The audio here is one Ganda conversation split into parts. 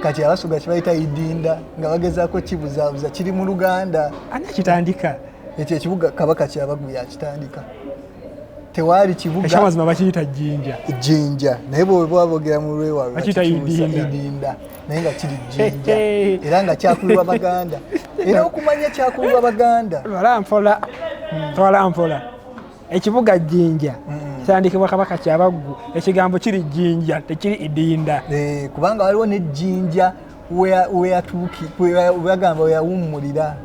kati abasuga kibayita idinda nga bagezaako kibuzaabuza kiri mu luganda ani akitandika ekyo ekibuga kabaka kyabagu yakitandika tewaali kibugamazima bakiyita jinja jinja naye bwebwabogera mu lwewalwakiyita idinda naye nga kiri jinja era nga kyakulirwa baganda era okumanya kyakulirwa baganda twala mpola hmm. twala mpola ekibuga jjinja kitandikibwa kabaka kyabaggu ekigambo kiri jjinja tekiri idinda eh, kubanga waliwo nejjinja weyatuukibagamba weyawummulira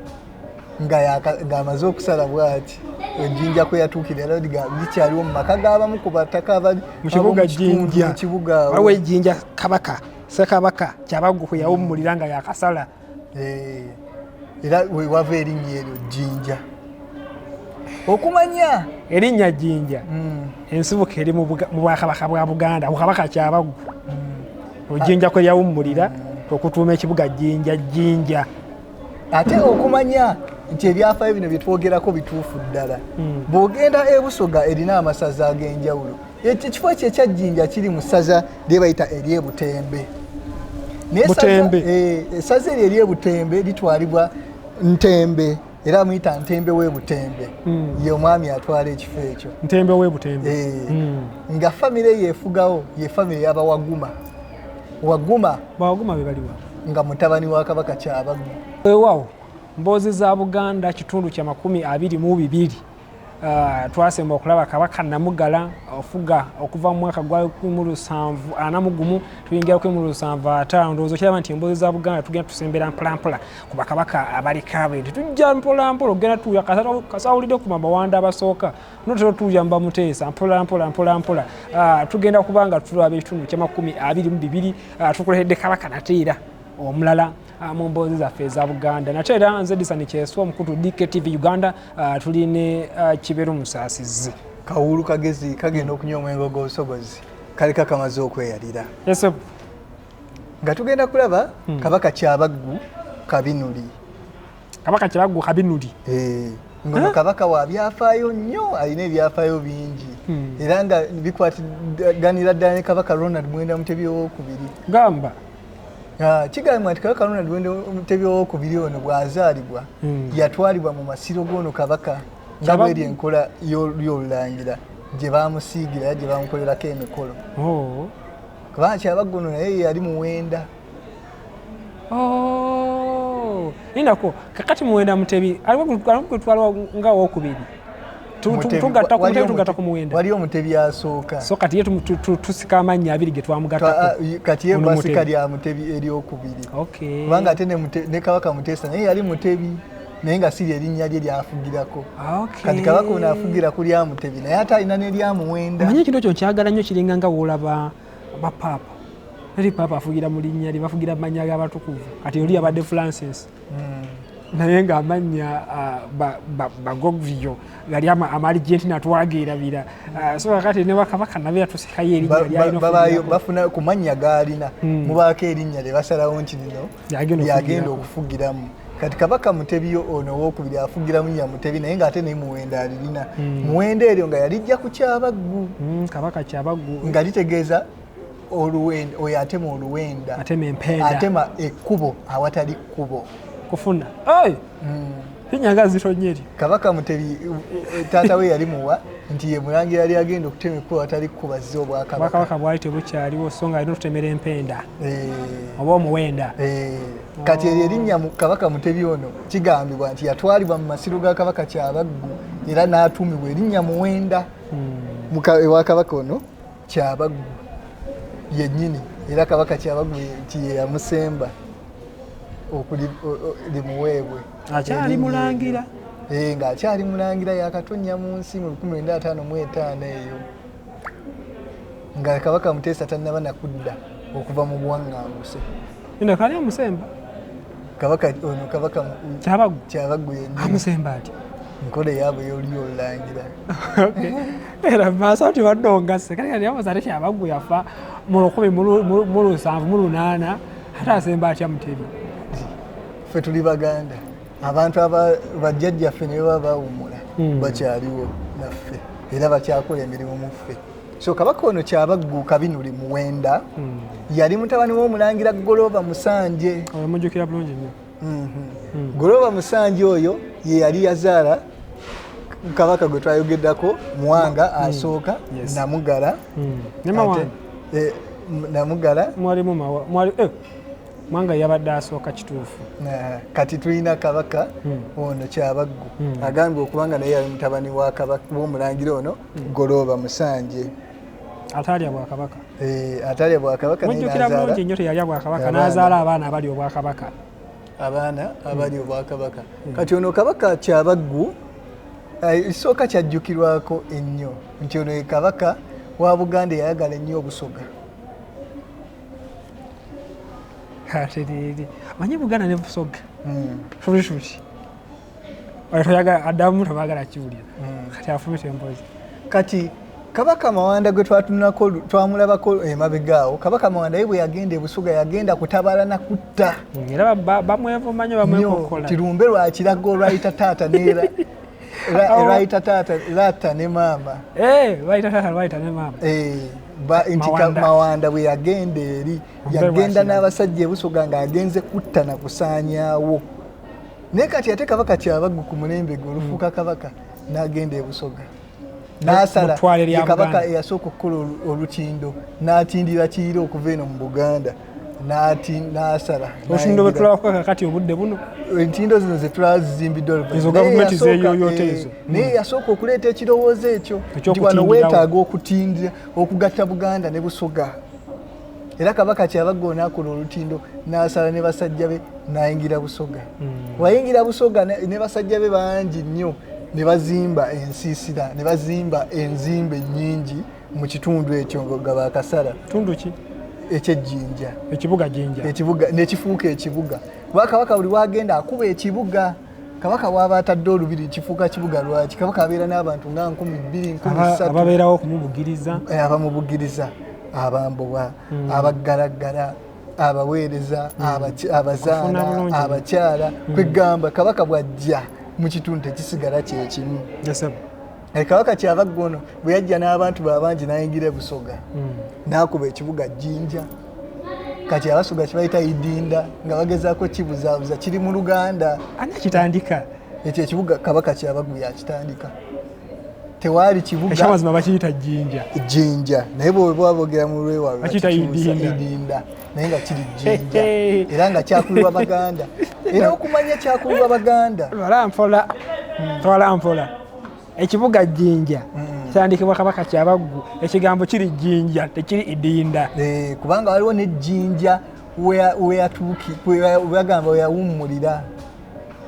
ng'amaze okusala bwati ejjinja kwe yatuukira era likyaliwo mu maka g'abamu ku bataka abali mu kibuga jjinja waliwo ejjinja kabaka sekabaka kyabaggu kwe yawummulira nga yakasala eh, era wewava erinnya eryo jjinja okumanya erinnya jjinja hmm. ensibuka eri mu bwakabaka bwa buganda kukabaka kyabaggu hmm. ojjinja kwe yawummulira hmm. okutuuma ekibuga jjinja jjinja ate okumanya nti ebyafayo bino byetwogerako bituufu ddala bwogenda ebusoga erina amasaza ag'enjawulo ekifo ekyo ekyajjinja kiri mu ssaza lye bayita eryebutembe essaza eh, eryo eryebutembe litwalibwa ntembe era amuyita ntembe webutembe hmm. ye omwami atwala ekifo ekyo ntembe webutembe eh, hmm. nga famire yefugawo ye famire yabawaguma waguma bawaguma bebaliwa nga mutabani wa kabaka kyabagu wewawo mboozi za buganda kitundu kya makumi abiri mu bibiri Uh, twasemba okulaba kabaka namugala ofuga okuva mu mwaka gwa 174 tuyingira 175 ndowooza okiraba nti emboozi za buganda tugenda tusembera mpolampola ku bakabaka abalika bintu tujja mpolampola okugenda tuya kasawulidde ku mabawanda abasooka notera tuya mubamuteesa mpolampola mpolampola uh, tugenda kubanga tulaba ekitundu kyamakumi abiri mu bibiri uh, tukulehedde kabaka nateera omulala Ah, mu mboozi zaffe eza buganda nate era nze disani kyeswa omukutu dktv uganda ah, tuli ne ah, kiberu musaasizi kawuulu kagezi kagenda okunywa omwenge ogw'obusobozi kali kakamaze okweyalira nga tugenda kulaba hmm. kabaka kyabaggu kabinuli kabaka kiraggo kabinuli eh, ngono kabaka wa byafaayo nnyo alina ebyafaayo bingi hmm. era nga bikwatiganira ddala ne kabaka ronald mwenda mutebi owokubiri gamba ah, kigambibwa nti kabaka ronald mwenda mutebi owokubiri ono bwazaalibwa hmm. yatwalibwa mu masiro g'ono kabaka nga bweri enkola y'olulangira gye bamusiigira era gye bamukolerako emikolo oh. kubanga kyabaggono naye yali muwenda nindako oh, kakati muwenda mutebi alikugutwala nga wokubiri tugatta ku muwenda waliyo mutebi asooka so kati ye tusika amannya abiri getwamugatakati ah, ye basika lya mutebi eryokubiri kubanga ate ne kabaka mutesa naye yali mutebi naye nga siri erinnya lye lyafugirako ah, kati kabaka ono afugira ku lyamutebi naye ate alina ne lyamuwenda manye ekintu ekyo nkyagala nnyo kiringa nga woolaba ba paapa teri paapa afugira mu linnya lye bafugira mannya g'abatukuvu kati oli abadde francis hmm. naye nga amannya bagogvio gali amaligenti natwageerabira hmm. so kakati ne bakabaka nabe yatusikayo erinnya lyalina bafuna ku mannya gaalina hmm. mubaako erinnya lye basalawo nti lino yagenda okufugiramu kati kabaka mutebi ono owokubiri afugiramu ya mutebi naye ngaate naye muwenda alirina hmm. muwenda eryo nga yalijja ku kyabaggu hmm, kabaka kyabaggu nga litegeeza oluwenda oyo atema oluwenda atema ekkubo awatali kkubo kufuna hmm. enyanga zitonye eri kabaka mutebi taata we yali muwa nti ye mulangira yali agenda okutema ekkubo atali kukubazza obwakabaka bwali tebukyaliwo so nga alina okutemera empenda eh. oba omuwenda eh. kati eryo erinnya kabaka mutebi ono kigambibwa nti yatwalibwa mu masiro ga kabaka kyabaggu era n'atuumibwa erinnya muwenda hmm. ewa kabaka ono kyabaggu yennyini era kabaka kyabaggu kyeyamusemba okulimuweebwe akyali mulangira eh, nga akyali mulangira yakatonnya mu nsi mu 1955 eyo nga kabaka muteesa tannaba nakudda okuva mu buwaŋŋanguse Ina kali amusemba. Kabaka ono kabaka kyabagu kyabagu yenye. Amusemba ati. Nkole yabo yoli olangira. Okay. Era masa ti wadonga se kali kali amuzare kyabagu yafa mu lukumi mu lusanvu mu lunana hata asemba ati amutebi. Fe tuli baganda. Abantu aba bajjajja fe ne baba umula. Hmm. Bakyaliwo naffe. Era bakyakola emirimu mu ffe. so kabaka ono kyabagguuka binuli muwenda hmm. yali mutabani w'omulangira golooba musanje mujjukira bulungi nnyo mhm. hmm. golooba musanje oyo ye yali yazaala kabaka gwe twayogeddako muwanga hmm. asooka namugala eh, namugala eh, mwanga yabadde asooka kituufu eh, kati tulina kabaka ono kyabaggu agambye okubanga naye yali mutabani w'omulangira ono golooba musanje ataalya bwakabaka eh, ataalya bwakabaka mujjukira bulungi nnyo teyalya bwakabaka n'azaala abaana abali obwakabaka abaana abali obwakabaka hmm. kati ono kabaka kyabaggu eh, isooka kyajjukirwako ennyo nti ono kabaka wa buganda eyayagala ennyo obusoga atereere manyi buganda ne busoga hmm. adamu tebagala kiwulira hmm. kati afumita empozi kati kabaka mawanda gwe twatunako twamulabako emabega awo kabaka mawanda ye bwe yagenda ebusuga yagenda kutabala na kutta hmm, era bamwevumanya bamwekokola tirumbe lwakiraga olwayita taata neera lwayita taata laata ne maama eh, lwayita taata lwayita ne maama eh, nti mawanda bwe yagenda eri yagenda n'abasajja ebusuga ng'agenze kutta na kusaanyawo naye kati ate kabaka kyabaggu ku mulembe gwe olufuuka hmm. kabaka n'agenda ebusoga n'asala kabaka eyasooka okukola olutindo n'atindira kiira okuva eno mu buganda nati nasala osindobe tulaba kwa kakati obudde buno entindo zino ze tulazimbiddwa luvannyuma ezo gavumenti zeeyoyoota ezo eh, naye hmm. yasooka okuleeta ekirowoozo ekyo nti wano weetaaga okutindira okugatta buganda ne busoga era kabaka kyabaga onakola olutindo nasala ne basajja be nayingira busoga hmm. wayingira busoga ne basajja be bangi nnyo ne bazimba ensiisira ne bazimba enzimba ennyingi mu kitundu ekyo nga bakasala tundu ki ekyejjinja ekibuga jinja ekibuga nekifuuka ekibuga bwakabaka buli wagenda akuba ekibuga kabaka waaba atadde olubiri kifuuka kibuga lwaki kabaka abeera n'abantu nga nkumi bbiri nkumisababeerawo okumubugiriza eh, abamubugiriza abambowa hmm. abaggalaggala abaweereza hmm. abazaana abakyala hmm. kwegamba kabaka bwajja mu kitundu tekisigala kyekimu Eh, kabaka kyava ggono bwe yajja n'abantu babangi n'ayingira ebusoga hmm. n'akuba ekibuga jjinja kati abasoga kibayita idinda nga bagezaako kibuzaabuza kiri mu luganda ani akitandika ekyo ekibuga kabaka kyabagu yakitandika tewaali kibugamazima bakiyita jjinja jjinja naye bweba bogera mu lwewalidinda naye nga kiri jjinja era nga kyakulirwa baganda era okumanya kyakulirwa baganda twala mpola hmm. twala mpola ekibuga jjinja mm. kyandikibwa kabaka kyabaggu ekigambo kiri jjinja tekiri idinda eh, kubanga waliwo nejjinja weyagamba weyawummulira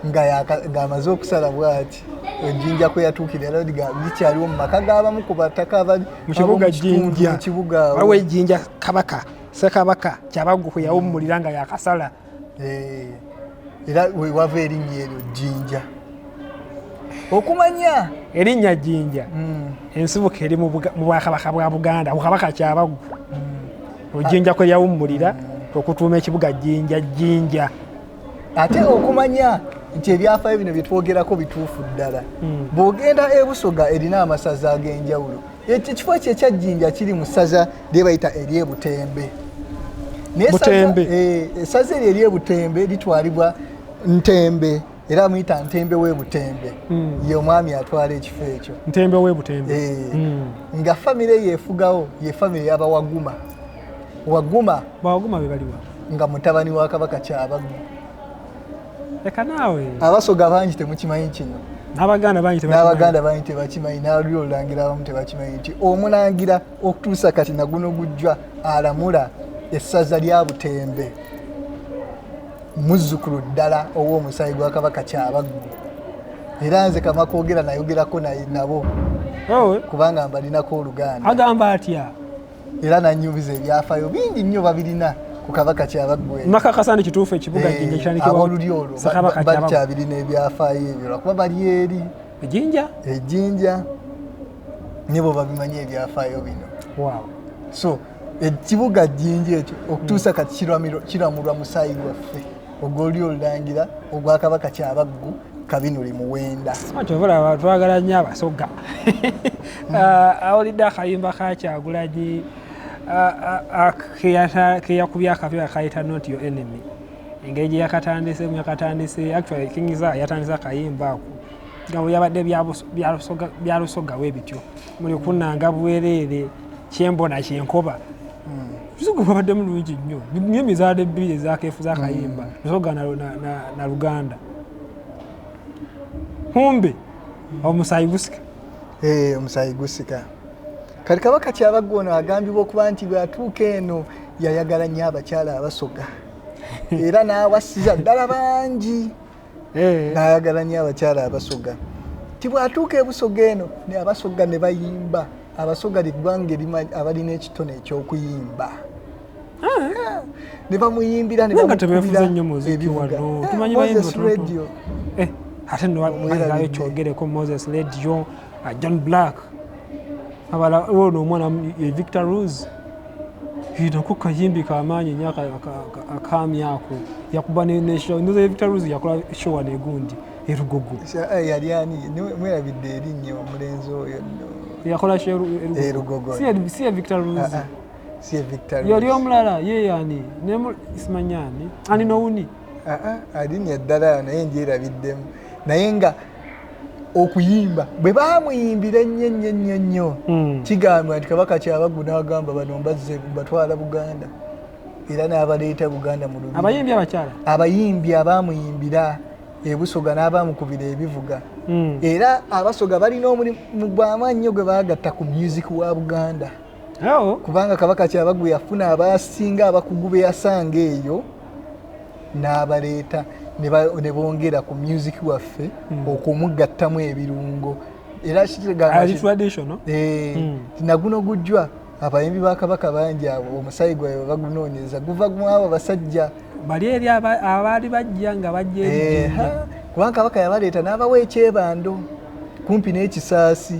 ng'amaze okusala bwati ejjinja kwe yatuukira era likyaliwo mu maka g'abamu ku bataka abali mu kibuga jjinja waliwo ejjinja kabaka sekabaka kyabaggu kwe yawummulira nga yakasala eh, era wewava erinnya eryo jjinja okumanya erinnya jjinja hmm. ensibuka eri mu bwakabaka bwa buganda kukabaka kyabaggu hmm. ojjinja kwe yawummulira hmm. okutuuma ekibuga jjinja jjinja ate okumanya nti ebyafayo bino byetwogerako bituufu ddala bwogenda ebusoga erina amasaza ag'enjawulo ekifo ekyo ekyajjinja kiri mu ssaza lye bayita eryebutembe essaza eh, eryo eryebutembe litwalibwa ntembe era amuyita ntembe webutembe hmm. ye omwami atwala ekifo ekyo ntembe webutembe eh, hmm. nga famire yefugawo ye famire yabawaguma waguma bawaguma bebaliwa nga mutabani wa kabaka kyabaggu leka naawe abasoga bangi temukimanyi kino n'abaganda bangi n'abaganda bangi tebakimanyi n'aluli olulangira abamu tebakimanyi nti omulangira okutuusa kati naguno gujjwa alamula essaza lya butembe muzzukulu ddala ow'omusaayi gwa kabaka kyabaggu era nze kama kwogera nayogerako nabo kubanga mbalinako oluganda agamba atya era nanyumiza ebyafayo bingi nnyo babirina ku kabaka kyabaggwe nakakasa nti kituufu ekibuga eh, jinja kirandikibwaolulyo olwo bakyabirina ebyafayo ebyo lwakuba bali eri ejinja ejinja nyebo babimanyi ebyafayo bino wow. so ekibuga jinja ekyo okutuusa kati kiramulwa musaayi gwaffe ogwo oli olulangira ogwa kabaka kyabaggu kabinuli muwenda kyovolaba twagala nnyo abasoga ah, awulidde akayimba kakyagulanyi ah, ah, keyakubye akapya akayita not your enemy engeri gye yakatandise mu yakatandise actually kingiza yatandise akayimba ako nga bwe yabadde byalusoga bwe bityo muli kunanga bwereere kyembona kyenkoba zugu babadde mulungi nnyo nyo mizaala ebbiri ezakeefu zakayimba mm. nsogana na luganda kumbe omusaayi gusika eh, omusaayi gusika kati kabaka kyabagga ono agambibwa okuba nti bwatuuka eno yayagala nnyo abakyala abasoga era n'awasiza ddala bangi eh. nayagala nyo abakyala abasoga ti bwatuuka ebusoga eno ne abasoga ne bayimba abasoga ligwanga erimanyi abalina ekitone ekyokuyimba ah. ne bamuyimbira nebamukubiraa ate newagaayo kyogereko moses radio ah, john black abala ono omwana eh, victor rose nako kayimbi kamaanyi nyo akaami ako yakuba victor rose yakola showa negundi erugogo eh, yali ani mwerabidde erinnya omulenzi oyo yakola erugogo si ya victor rose ah, ah. yali omulala yeyani simanyani ani nowuni alinnya ddala naye ndyerabiddemu naye nga okuyimba bwe baamuyimbira ennyo ennyo ennyo ennyo hmm. kigambwa nti kabaka kyabaggu n'agamba bano mbazze mbatwala buganda era n'abaleeta buganda mu lubiri abayimbi abakyala abayimbi abaamuyimbira ebusoga n'abaamukubira ebivuga hmm. era abasoga balina omulimu gw'amaannyo gwe baagatta ku music wa buganda awo kubanga kabaka kyabagu yafuna abasinga abakugu be yasanga eyo n'abaleeta ne bongera ku music waffe hmm. okumugattamu ebirungo era kigamba eh, hmm. naguno gujjwa abayimbi ba kabaka bangi abo omusayi gwayo bagunoonyeza guva mwabo basajja bali eri abaali bajja nga bajja eh, kubanga kabaka yabaleeta n'abawa ekyebando kumpi n'ekisaasi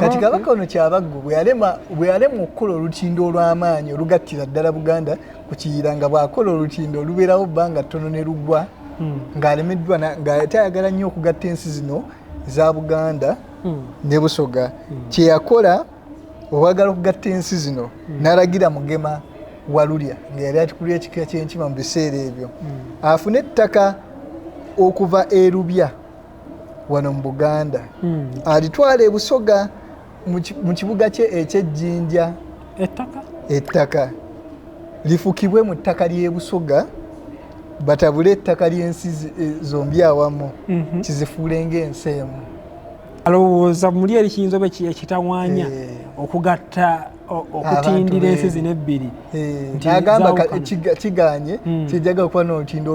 kati kabaka ono kyabaggu bweyalema okukola olutindo olw'amaanyi olugattira ddala buganda ku kiyira nga bw'akola olutindo olubeerawo bbanga ttono ne luggwa hmm. ng'alemeddwa ng'ate ayagala nnyo okugatta ensi zino za buganda hmm. ne busoga hmm. kye yakola obwagala okugatta ensi zino n'alagira mugema walulya nga yali atikulira ekika ky'enkima mu biseera ebyo afune ettaka okuva erubya wano mu buganda hmm. alitwala ebusoga mu kibuga kye ekyejjinja ettaka ettaka lifukibwe mu ttaka ly'ebusoga batabule ettaka ly'ensi eh, zombi awamu mhm. kizifuule ng'ensi emu alowooza muli eri kiyinza oba ekitawanya eh. okugatta okutindira ensi zino ebbiri agamba kiganye hmm. kijaga kuba nolutindo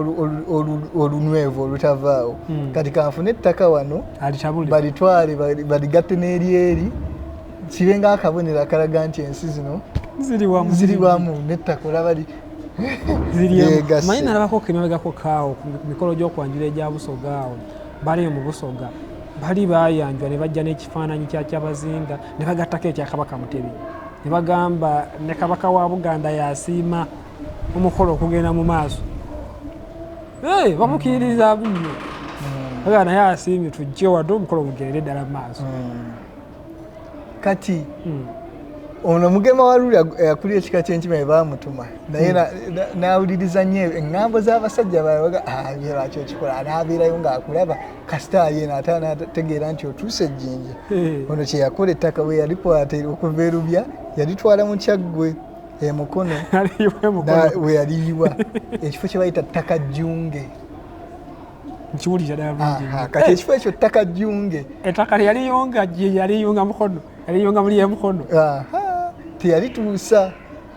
olunwevu olutavaawo hmm. kati kanfune ettaka wano balitwale baligatte n'eryeri kibe nga akabonero akalaga nti ensi zino ziri wamu nettaka olaba manyi nalabako kemabegako kaawo ku mikolo gy'okwanjula egya busoga awo bali mu busoga bali bayanjwa ne bajja n'ekifaananyi kyakyabazinga ne bagattako ekya kabaka mutebi ne bagamba ne kabaka wa buganda yasiima omukolo okugenda mu maaso bamukiiriza bunno mm. aga naye asiimye tujje wadde omukolo gugende ddala mu maaso mm. kati mm. ono mugema waluli akulira ekika kyenkima ebamutuma naye nawuliriza nyo eŋŋambo z'abasajja baaga ah, byebakyo kikola anaabeerayo ng'akulaba kasita yena ate anategeera nti otuuse ejjinja eh. ono kyeyakola ettaka bwe yalikwata okuva erubya yalitwala mu kyaggwe emukono we yaliyiwa ekifo kye bayita ttaka jjunge kati ekifo ekyo ttaka jjunge ettaka lyeyaliyunga lyeyaliyunga mukono yaliyunga muli emukono teyalituusa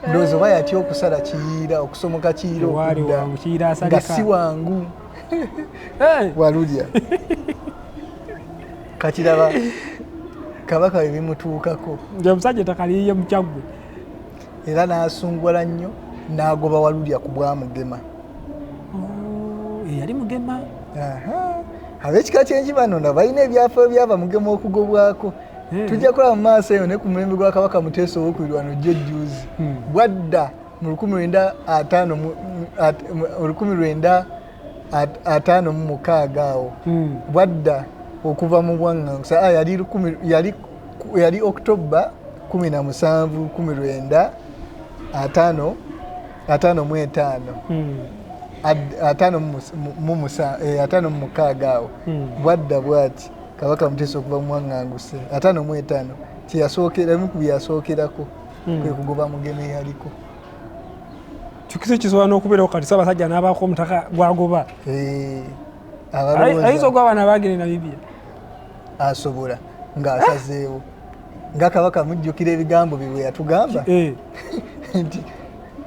ndowooza oba yatya okusala kiyiira okusomoka kiyiira okudda nga si wangu walulya kakiraba kabaka bye bimutuukako nti omusajja etakaliyiye mukyaggwe era n'asungwala nnyo n'agoba walulya ku bwamugema oh, eyali mugema ab'ekika ky'enjibano na balina ebyafaayo byaba mugema okugobwako hmm. tujja kulaba mu maaso eyo naye ku mulembe gwa kabaka muteesa owokubiri wano jjo ejjuuzi hmm. bwadda mu lukumi lwenda ataano olukumi lwenda ataano mu mukaaga awo hmm. bwadda okuva mu bwaŋŋangusa ah, yali october kumi na musanvu kumi lwenda ataano ataano mu etaano ataano mu mukaaga awo bwadda bwati kabaka mutesa okuva mumwaŋanguse ataano mu etaano kyeyasookeramu ku byeyasookerako hmm. kwe kugoba mugeme yaliko kikisa ekisobola n'okubeerawo kati sabasajja n'abaako omutaka gwagoba eh, ayinza ogwa abaana bagere namibia asobola ng'asazeewo nga kabaka mujjukira ebigambo bye bwe yatugamba eh. nti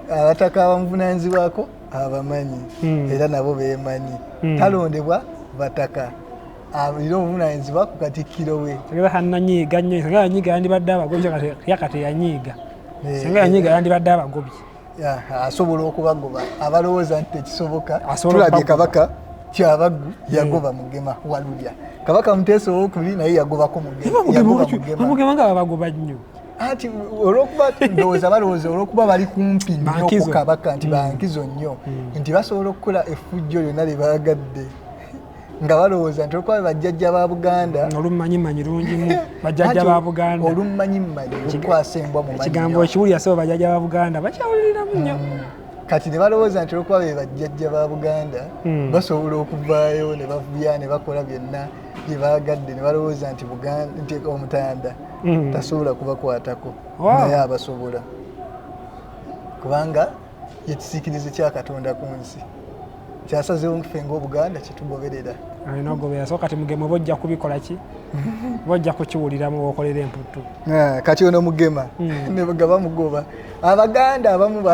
abataka abamuvunanyizibwako abamanyi hmm. era nabo bemanyi hmm. talondebwa bataka alina obuvunanyizibwa ku katikkiro we singa kananyiiga nnyo singa yanyiiga yandibadde abagobye yakati yanyiiga eh, singa yanyiiga eh. yandibadde abagobye asobola okubagoba abalowooza nti tekisoboka tulabye kabaka kyabaggu eh. yagoba mugema walulya kabaka muteesa owokubiri naye yagobako mugema nga babagoba nnyo anti olwokuba ndowooza balowooza olwokuba bali kumpi nnyo ku kabaka nti mm. bankizo nnyo mm. nti basobola okukola effujjo lyonna lye baagadde nga balowooza nti olwokuba bajjajja ba buganda mm, olummanyimanyi lungimu bajjajja ba buganda olummanyimanyi lukwasa embwa mu ekigambo ekiwulira sebo bajjajja ba buganda bakyawuliriramu nnyo mm. kati ne balowooza nti olwokuba be bajjajja ba buganda mm. basobola okuvaayo ne bavuya ne bakola byonna bye baagadde ne balowooza nti nti omutanda tasobola kubakwatako naye abasobola kubanga yekisiikirize kya katonda ku nsi kyasazewo nfe ngaobuganda kyetugoberera alina ogoberera so kati mugema oba ojja kubikola ki oba ojja kukiwuliramu owokolera emputtu ah, kati ono mugema hmm. nga bamugoba abaganda abamu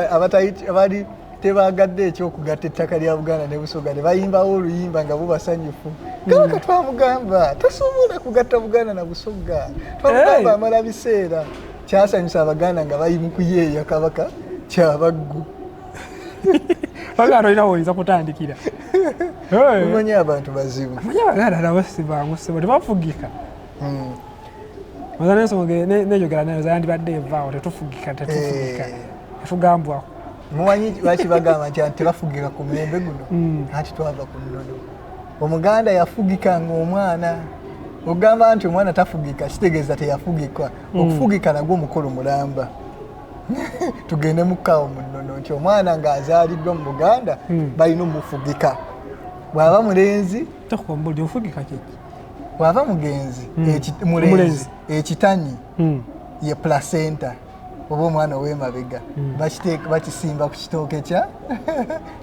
abali tebagadde ekyokugatta ettaka lya buganda ne busoga ne bayimbawo oluyimba nga bubasanyufu hmm. kabaka twamugamba tosobola kugatta buganda na busoga twamugamba amala biseera kyasanyusa abaganda nga bali mukuyeeya kabaka kyabaggu baganda olina woyinza kutandikira omanyi abantu bazibu manyi abaganda nabo sibangu sibo tebafugika hmm. oza nensonga nejogera nayo zayandibadde evaawo tetufugika tetufugika eh. tugambwako mumanyi lwaki bagamba nti tebafugika ku mulembe guno hmm. anti twava ku nnono omuganda yafugika ngaomwana ogamba nti omwana tafugika kitegeeza teyafugikwa hmm. okufugika nagwo omukolo mulamba tugende mukawo munono nti omwana ng'azaaliddwa mu buganda hmm. balina omufugika bw'aba mulenzi bw'aba mugenzi hmm. mulenzi ekitanyi ye placenta oba omwana owemabega hmm. bakisimba ku kitooke kya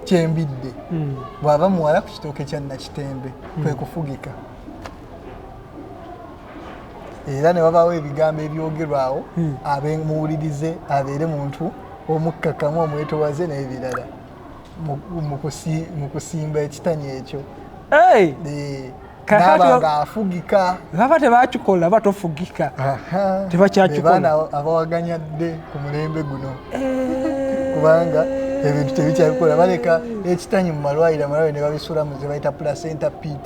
kyembidde hmm. bwaba muwala ku kitooke kya nakitembe hmm. kwekufugika era ne wabaawo ebigambo ebyogerwawo hmm. abemuwulirize abeere muntu omukkakkamu omwetowaze n'ebirala mu kusimba ekitani ekyo ng'afugika baba tebakikola ba tofugika tebakyakikolana abawaganya dde ku mulembe guno eh. kubanga ebintu tebikyabikola baleka ekitanyi mu malwaliro amalwaliro ne babisulamu ze bayita placenta pit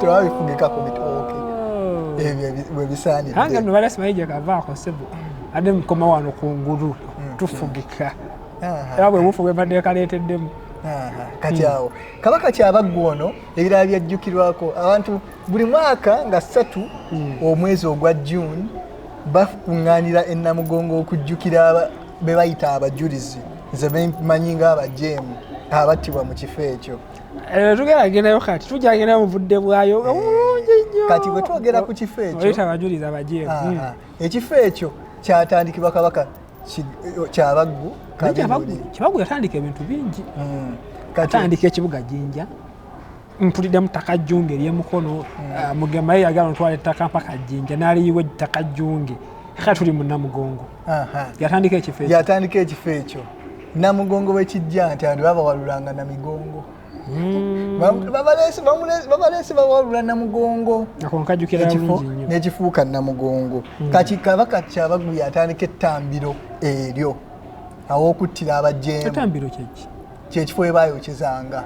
tulaba bifugika ku bitooke oh. ebyo webisaanidde kanga no balasi bayija kavaako sebo ade mukoma wano ku ngulu mm. tufugika era bwe bufu bwebadde kaleeteddemu kati hmm. awo kabaka kyabaggu ono ebirala byajjukirwako abantu buli mwaka nga ssatu hmm. omwezi ogwa june bakuŋŋaanira ennamugongo okujjukira be bayita abajulizi nze bemanyi nga abajeemu abattibwa mu kifo ekyo eh, tugenda gendayo kati tujja gendayo muvudde bwayo eh, bulungi nyo kati bwe twogera ku kifo ekyoyita abajulizi abajeemu ah, hmm. ah. ekifo ekyo kyatandikibwa kabaka kyabaggu kyabaggu yatandika ebintu bingi hmm. atandika ekibuga jinja mpulidde mutaka junge erye mukono hmm. ah, mugema ye yagala ntwala ettaka mpaka jinja naliyiwa ettaka junge ka tuli mu namugongo yatandika ekifo ekyo yatandika ekifo ekyo namugongo wekijja nti abantu babawalulanga namigongo hmm. babalesi bawalula namugongo ekifo nekifuuka namugongo hmm. kati kabaka kyabagu yatandika ettambiro eryo awokuttira abajeemu kyekifo webayokyezanga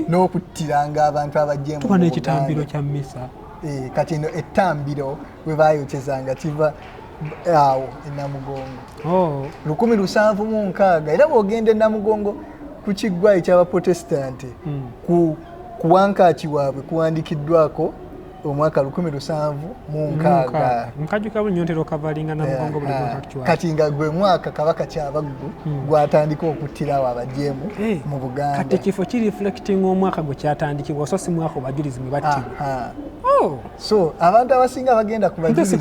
n'okuttiranga abantu abajemu tuba n'ekitambiro kya misa eh, kati eno ettambiro bwe bayokyezanga kiva awo enamugongo oh. lukumi lusanvu mu nkaaga era bwogenda enamugongo ku kiggwa ekyabaprotestanti hmm. ku wankaaki waabwe kuwandikiddwako omwaka lukumi lusanvu mu nkaaga nkajuka buli nyontera okavalinga namugongo buli kati nga gwe mwaka kabaka kyabaggu hmm. gwatandika okuttirawo abajeemu eh, mu buganda kati ekifo ki reflecting omwaka gwe kyatandikibwa oso si mwaka obajulizi mwe battibwa oh! so abantu abasinga bagenda ku bajulizi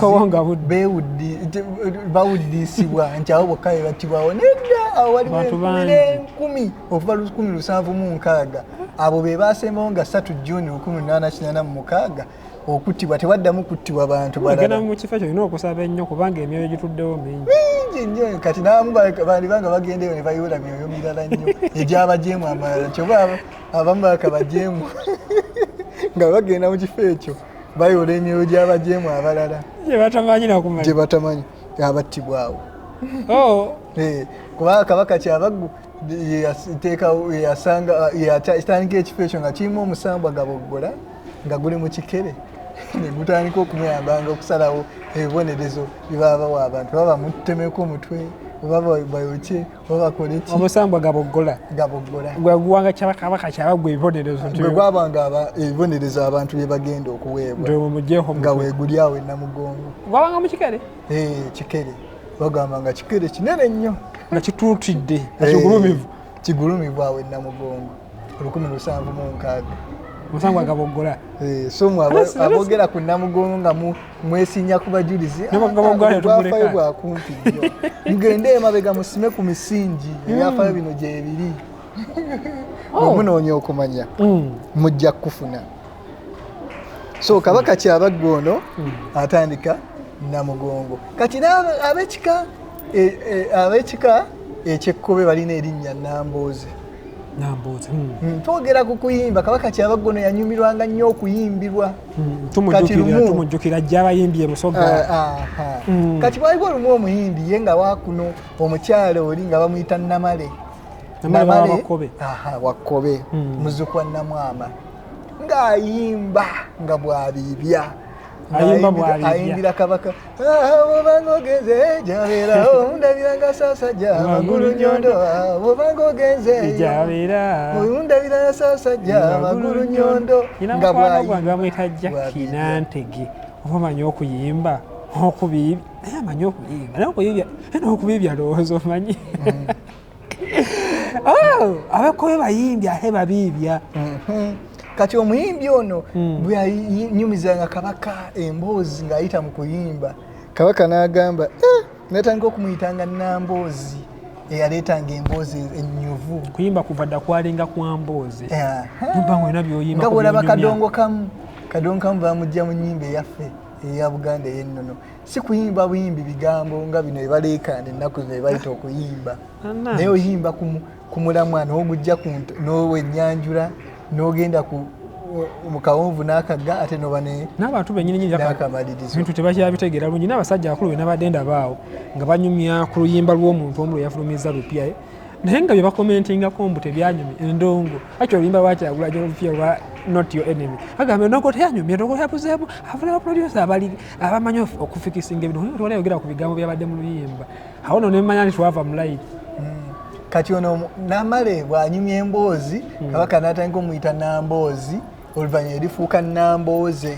bawuddisibwa nti awo bokka bebattibwawo nedda awo waliwo enkumi okuva lukumi lusanvu mu nkaaga abo be baasembawo nga satu juni lukumi lunaana kinaana mu mukaaga okuttibwa tewaddamu kuttibwa bantu balala mu kifo ekyo olina okusaba ennyo kubanga emyoyo gituddewo mingi mingi nnyo kati naamu bandibanga bagendeyo ne bayoola myoyo mirala nnyo egyabajeemu amalala kyoba abamu baka bajeemu nga bagenda mu kifo ekyo bayoola emyoyo gy'abajeemu abalala gyebatamanyi nakumanya gyebatamanyi abattibwawo oh. eh, kubanga kabaka kyabaggu yatandika ekifo ekyo nga kirimu omusambwa gaboggola nga guli mu kikere negutandika okumuyambanga okusalawo ebibonerezo byebaba bawa abantu baba bamutemeko omutwe oba bayokye oba bakoleki omusambwa gaboggola gaboggola gweguwanga kyabakabaka kyaba gwe ebibonerezo gwe gwabanga ebibonerezo abantu byebagenda okuweebwa nga weguli awo enamugongo gwabanga mukikere eh, kikere bagamba nga kikere kinene nnyo nga kituutidde eh, kigulumivu kigulumivu awo enamugongo olukumi lusanvu mu nkaaga musango agaboggola eh, so abogera ku namugongo nga mwesinya ku bajulizi bwafayo ah, bwakumpi nnyo mugende emabega musime ku misingi hmm. ebyafayo bino gyebiri oh. omunoonya okumanya hmm. mujja kufuna so kabaka kyabagga ono hmm. atandika namugongo kati abekika e, e, abekika ekyekkobe balina erinnya nambooze hmm. Hmm, twogera ku kuyimba kabaka kyabagga ono yanyumirwanga nnyo okuyimbirwa tumujjukira jjabayimbi ebusoga ah, ah, ah. kati waliwo olumu omuyimbi ye nga wakuno omukyalo oli nga bamuyita namale wakkobe muzukwa namwama ng'ayimba nga bwabiibya ayindira kabaka bwobanga ogenze jabera omundabira nga sasa ja magulu nyondo bwobanga ogenze jabera omundabira nga sasa ja magulu nyondo nga bwayimba bamwita jaki nantege oba manyi okuyimba okubiibya naye amanyi okubiibya naye okubiibya naye okubiibya lowooza omanyi mm. Oh, abekoyo bayimbi ahe babiibya mhm. kati omuyimbi ono hmm. bweyanyumizanga kabaka emboozi ng'ayita mu kuyimba kabaka n'agamba eh, natandika okumuyitanga namboozi eyaleetanga emboozi ennyuvu kuyimba kuva dda kwalinga kwa mboozi nga bwolaba kadongo kamu kadongo kamu bamujja mu nyimba eyaffe eya buganda eyennono si kuyimba buyimbi bigambo nga bino ebaleekaana ennaku zino ebayita okuyimba naye oyimba ku mulamwa n'ogujja n'owenyanjula n'ogenda ku mu kawonvu n'akagga ate noba n'abantu bennyininyinibintu tebakyabitegeera bulungi n'abasajja akulu be nabadde ndabaawo nga banyumya ku luyimba lw'omuntu omu lwe yafulumizza lupyae naye nga byebakomentingako mbu tebyanyumya endongo aki oluyimba lwakyagulajo lupya lwa not your enemy agamba endongo teyanyumya endongo yabuzeemu afuna baprodusa abali abamanyi okufikisinga ebintu tewali ayogera ku bigambo byabadde mu luyimba awo no nemanya nti twava mu layiti hmm. kati ono namale bwanyumya emboozi hmm. kabaka natandika omuyita namboozi oluvanyuma erifuuka nambooze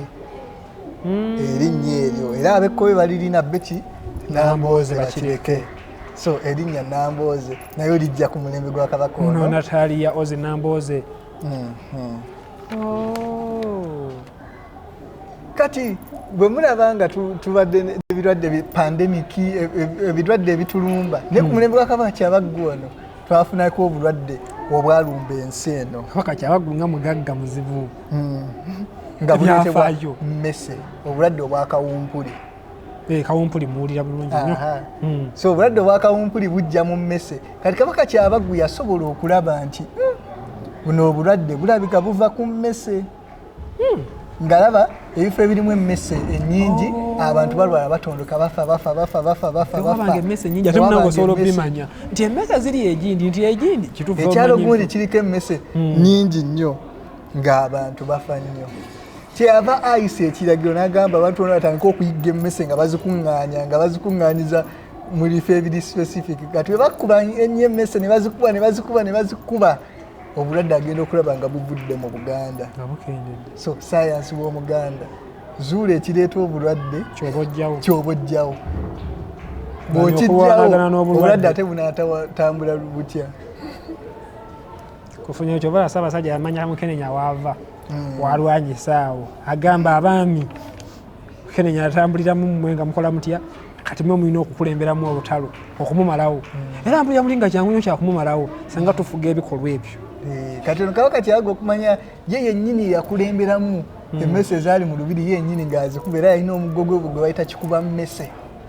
hmm. erinnya eryo era abekkobe balirina beki nambooze bakireke so erinnya nambooze naye olijja ku mulembe gwa kabaka ono nataliya ozi nambooze oh. kati bwe mulaba nga tubadde ebirwadde pandemiki e, e, ebirwadde ebitulumba naye ku hmm. mulembe gwa kabaka kyabaggu wano twafunako obulwadde obwalumba ensi eno kabaka kyabaggu nga mugagga muzibu hmm. nga buletebwa mmese obulwadde obwakawumpuli eh, kawumpuli muwulira bulungi nyo hmm. so obulwadde obwakawumpuli bujja mu mmese kati kabaka kyabaggu yasobola okulaba nti buno obulwadde bulabika buva ku mmese hmm. ngalaba ebifo ebirimu emmese ennyingi oh. abantu balwala batondoka bafa bafa bafa bafa bafabaanga emmese nyingi ate munange osobola obimanya nti emmese ziri egindi nti egindi ekyalo gundi kiriko emmese hmm. nyingi nnyo ng'abantu bafa nnyo kyeyava ayisa ekiragiro n'agamba abantu bona batandika okuyigga emmese nga bazikuŋŋaanya nga bazikuŋŋaanyiza mu bifo ebiri specific kati bwe bakuba ennyo emmese ne bazikuba ne bazikuba ne bazikuba obulwadde agenda okulaba nga buvudde mu buganda so sayansi w'omuganda zuula ekireeta obulwadde kyoba ojjawo bwokijjawo obulwadde ate bunatambula butya kufunya ekyo bala ssaabasajja yamanya mukenenya waava hmm. walwanyisaawo agamba abaami kenenya atambuliramu mmwe nga mukola mutya kati mwe mulina okukulemberamu olutalo okumumalawo hmm. era mpulira muli nga kyangu nyo kyakumumalawo singa tufuga ebikolwa ebyo eh, kati ono kabaka kyaga okumanya ye yennyini yakulemberamu hmm. emmese ezaali mu lubiri yenyini ng'azikuba era yalina omugo gwe gwe bayita kikuba mmese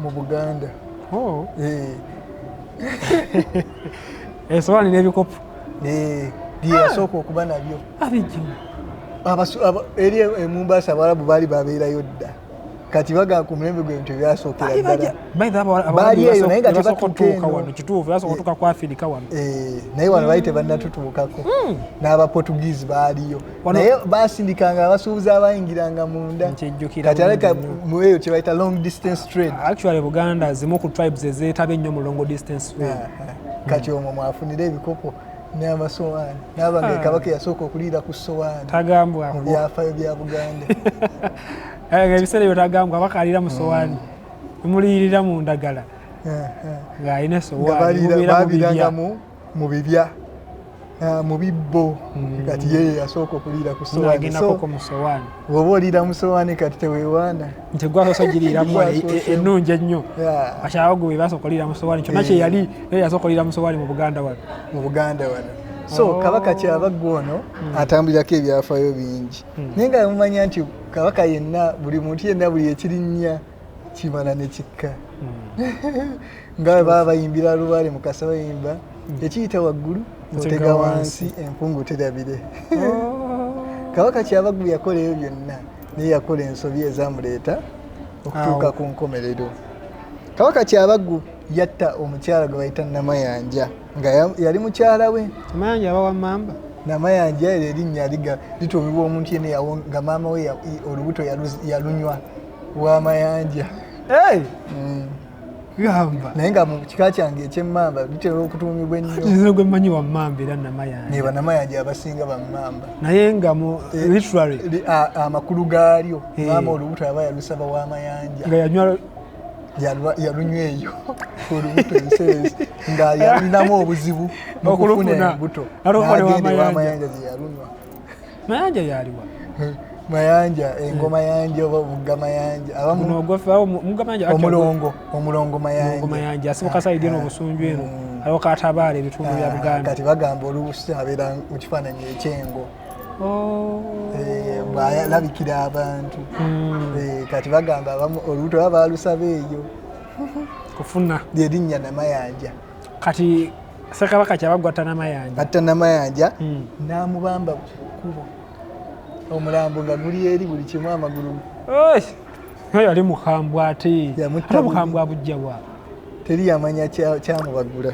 mu buganda oh. eh. esowaani n'ebikopo eh, byeyasooka ah. okuba nabyo abijima eri emumbaasa abawalabu baali babeerayo dda kati baga ku mulembe gwe bintu ebyasookera ddalabaali eyo naye nga tebatuukawanokituufuyasobotuka eh, ku afirika wano naye wano baali tebannatutuukako hmm. n'abaportuguese baaliyo naye basindikanga abasuubuzi abayingiranga munda kati aleka mueyo kyebayita long distance trade actually buganda zimu ku tribes ezeetaba ennyo mu long distance trade ah, ah. Hmm. kati omwo mwafunira ebikopo n'amasowaani nabanga ah. kabaka yasooka okuliira ku sowaani tagambwa mu byafayo bya buganda eh, ebiseera ebyo tagambwa abaka aliira mu sowaani hmm. muliyirira mu ndagala eh, eh. ng'alina esowaani mu bibya ah, mu bibbo mm. kati ye yasooka okuliira ku sowaani bwoba oliira mu sowaani kati tewewaana nti gwasoosa ogiriiramu e, e, ennungi ennyo akyawo gwe basooka oliira mu sowaani kyonna eh. kyeyali naye yasooka oliira mu sowaani mu buganda wano mu buganda wano so oh. kabaka kyaba ggwe ono hmm. atambulirako ebyafayo bingi hmm. naye nga mumanya nti kabaka yenna buli muntu yenna buli ekirinnya kimala ne kikka hmm. nga baba bayimbira lubaale mukasa bayimba hmm. ekiyita waggulu notega wansi empungu terabire oh. kabaka kyabaggu yakola ebyo byonna naye yakola ensobi ezamuleeta okutuuka ku nkomerero kabaka kyabaggu yatta omukyala gwe bayita namayanja nga yali mukyala we namayanja abawa mamba namayanja ero erinnya liga lituumibwa omuntu yena nga maama we olubuto yalunywa wa mayanja hey. mm. gamba naye nga mu kika kyange ekyemmamba bitera okutuumibwa ennyo gwe mmanyi wammamba era namayanja ne banamayanja abasinga bammamba naye nga mu eh, literary amakulu gaalyo eh. maama olubuto aba yalusaba wa mayanja nga yanywa yalunywa eyo olubuto enseezi nga yalinamu obuzibu mukufuna embuto nagendewamayanja gye yalunywa mayanja yaliwa mayanja engoma eh, yanja oba omugga mayanja omulongo omulongo mayanja asibuka ah, saidi eno ah, obusunju eno mm. aliwo katabaala ebitundu bya ah, buganda kati bagamba olubusi abeera mu kifaananyi ekyengo oh. eh, bwalabikira abantu hmm. eh, kati bagamba olubuto baba balusaba eyo kufuna erinnya namayanja kati sekabaka kyabaggwa tanamayanja atta namayanja hmm. namubamba kubo omulambo nga guli eri buli kimu amagulu oyo yali mukambwe ate ate mukambwe abujjawa teri yamanya kyamubagula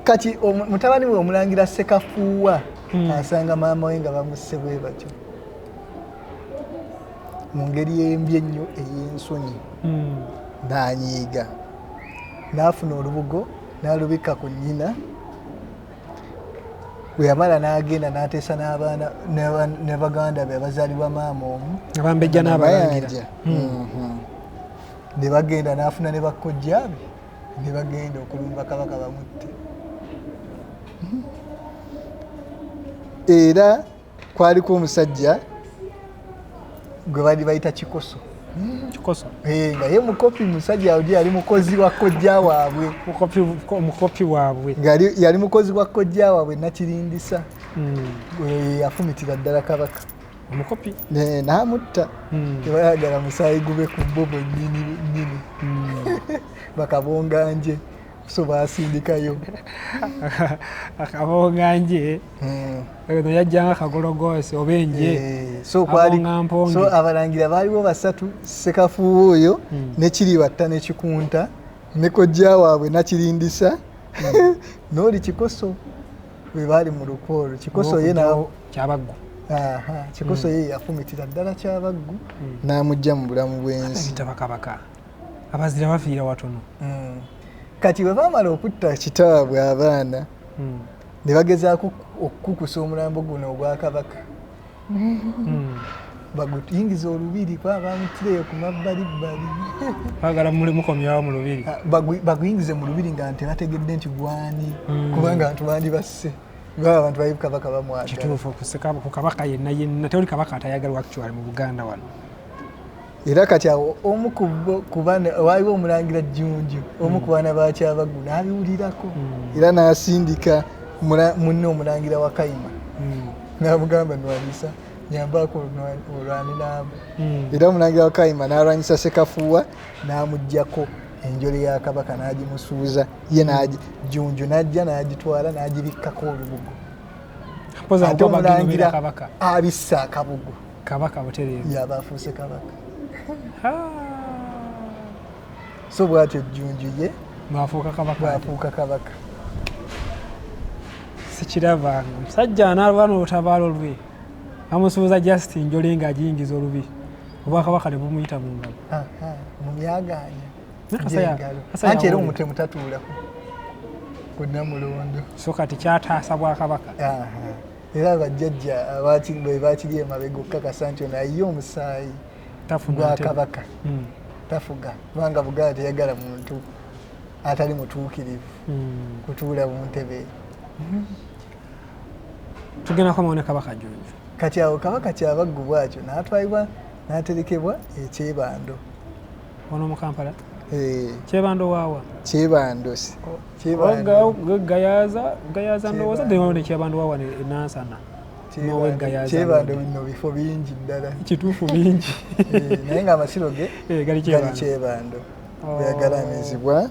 kati mutabani we omulangira sekafuuwa hmm. asanga maama we nga bamusse bwe batyo mu ngeri embi ennyo ey'ensonyi hmm. nanyiiga n'afuna olubugo n'alubikka ku nnyina bwe yamala n'agenda n'ateesa n'abaana ne baganda be abazaalibwa maama omu abambejja n'abalangira mm-hmm. ne bagenda n'afuna ne bakkojja be ne bagenda okulumba kabaka bamutte mm-hmm. era kwaliko omusajja gwe bali bayita kikoso kikoso eh, nga ye mukopi musajja oji yali mukozi wa kojja waabwe mukopi waabwe yali mukozi wa kojja waabwe nakirindisa hmm. eh, afumitira ddala kabaka omukopi eh, namutta hmm. tebayagala musaayi gube ku bo bwenyini nyini hmm. bakabonganje so basindikayo akabonganje eh. yajjanga kagologoosi oba enje eh, so abalangira baaliwo basatu sekafuuwa oyo hmm. nekiribatta nekikunta nekojja waabwe nakirindisa hmm. nooli kikoso bwe baali mu lukwa olwo kikoso ye kyabaggu kikoso hmm. ye yafumitira ddala kyabaggu n'amugja mu bulamu bwensi abazira bafiira watono kati bwe bamala okutta kitaabwe abaana ne bagezaako okukukusa omulambo guno ogwa kabaka hmm. baguyingiza olubiri kuba bamutireyo ku mabbalibbali bagala muli mukomyawo mu lubiri ah, baguyingize mu lubiri nga nti bategedde nti gwani hmm. kubanga bantu bandi basse baba bantu bali kabaka bamwagala kituufu ku kabaka yenna yenna tewali kabaka atayagalwa actuali mu buganda wano era kati awo omu waliwo omulangira jjunju omu ku baana bakyabaggu n'abiwulirako hmm. era n'asindika munne omulangira wa kayima hmm. n'amugamba nwanyisa nyambaako olwani naamu hmm. era omulangira wa kayima n'alwanyisa sekafuuwa n'amugjako enjole ya kabaka n'agimusuuza ye jjunju n'ajja n'agitwala n'agibikkako olubugo ate omulangira abissa akabugo kabaka butereevu yaba afuuse kabaka so bwatyo jjunju ye bwafuuka kabaka bwafuuka kabaka sikiraba musajja anaalwana olutabaalo lwe amusuuza just njole nga agiyingiza olubi obwakabaka ne bumuyita mu ngalo mu byagaanya anti era omutemu tatuulako ku namulondo so kati kyataasa bwakabaka era abajjajja be bakiri emabega okukakasa nti ono ayiye omusaayi gwa kabaka hmm. tafuga kubanga buganda teyagala muntu atali mutuukirivu hmm. kutuula mu ntebe tugenda komawo ne kabaka junju kati awo kabaka kyabaggubwakyo natwalibwa naterekebwa ekyebando wano mu kampala eh. kyebando waawa kyebando gayaza gayaza ndowooza dewawo ne kyebando waawa enansana kyebando bino bifo bingi ddala kituufu bingi eh, naye nga amasiro ge eh, gali kyebando oh. oyagalamizibwa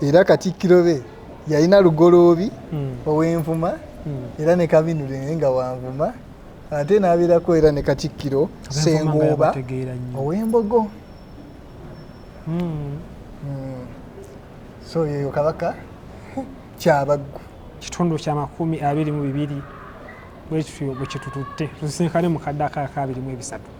era katikkiro be yalina lugoloobi hmm. ow'envuma hmm. era ne kabinule naye nga wanvuma ate n'abeerako era ne katikkiro sengooba ow'embogo hmm. Hmm. so yeyo kabaka kyabaggu kitundu kya makumi abiri mu bibiri bwekityo bwekitututte tusinkane mu kadde akaakabiri mu ebisatu